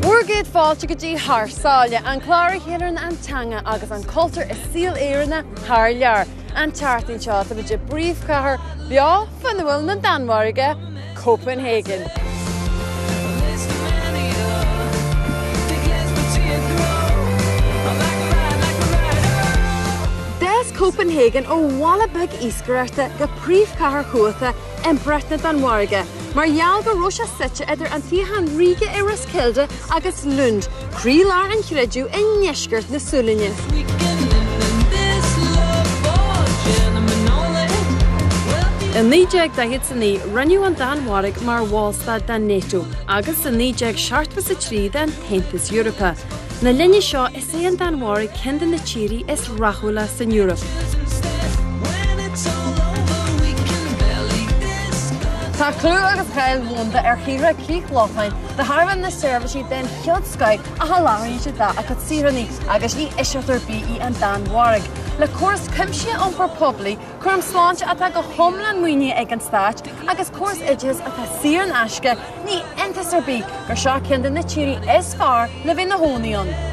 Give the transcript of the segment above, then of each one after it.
Bhur gcéad fáilte go dtí Thar Sáile, an clár a chíorann an teanga agus an cultúr i saol Éireannach thar lear. An tseachtain seo, tá muid i bpríomhchathair bheo fhuinniúil na Danmhairge, Copenhagen. D'fhás Copenhagen ó bhaile beag iascaireachta go príomhchathair chumhachtach Impireacht na Danmhairge mar gheall go raibh sé suite idir an suíochán ríoga i Roskilde agus Lund, croílár an chreidimh i ndeisceart na Sualainne. I 1949 rinneadh an Danmhairg mar bhallstát den NATO agus i 1973 den Aontas Eorpach. Lenár linne seo is é an Danmhairg ceann de na tíorthaí is rathúla san Eoraip. Tá clú agus cáil dhomhanda ar thíortha Chríoch Lochlann. De thairbhe na seirbhísí den chéad scoth a sholáthraíonn siad dá gcuid saoránach agus ní eisceacht ar bith í an Danmhairg. Le córas cuimsitheach iompair phoiblí, cúram sláinte atá go hiomlán maoinithe ag an stát agus córas oideachais atá saor in aisce, ní iontas ar bith gur seo ceann de na tíorthaí is fearr le bheith i do chónaí ann.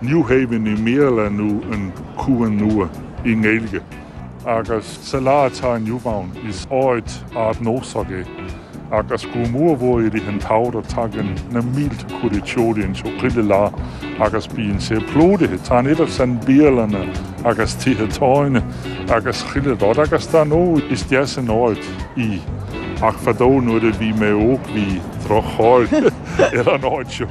New Haven i mBéarla nó An Cuan Nua i nGaeilge. Agus sa lá atá inniu ann, is áit ardnósach í agus go mór mhór i rith an tsamhraidh tagann na mílte cuairteoirí anseo chuile lá agus bíonn sé plódaithe. Tá an oiread sin bialanna agus tithe tábhairne agus chuile rud agus dar ndóigh is deas an áit í ach fadó nuair a bhí mé óg bhí droch-cháil ar an áit seo.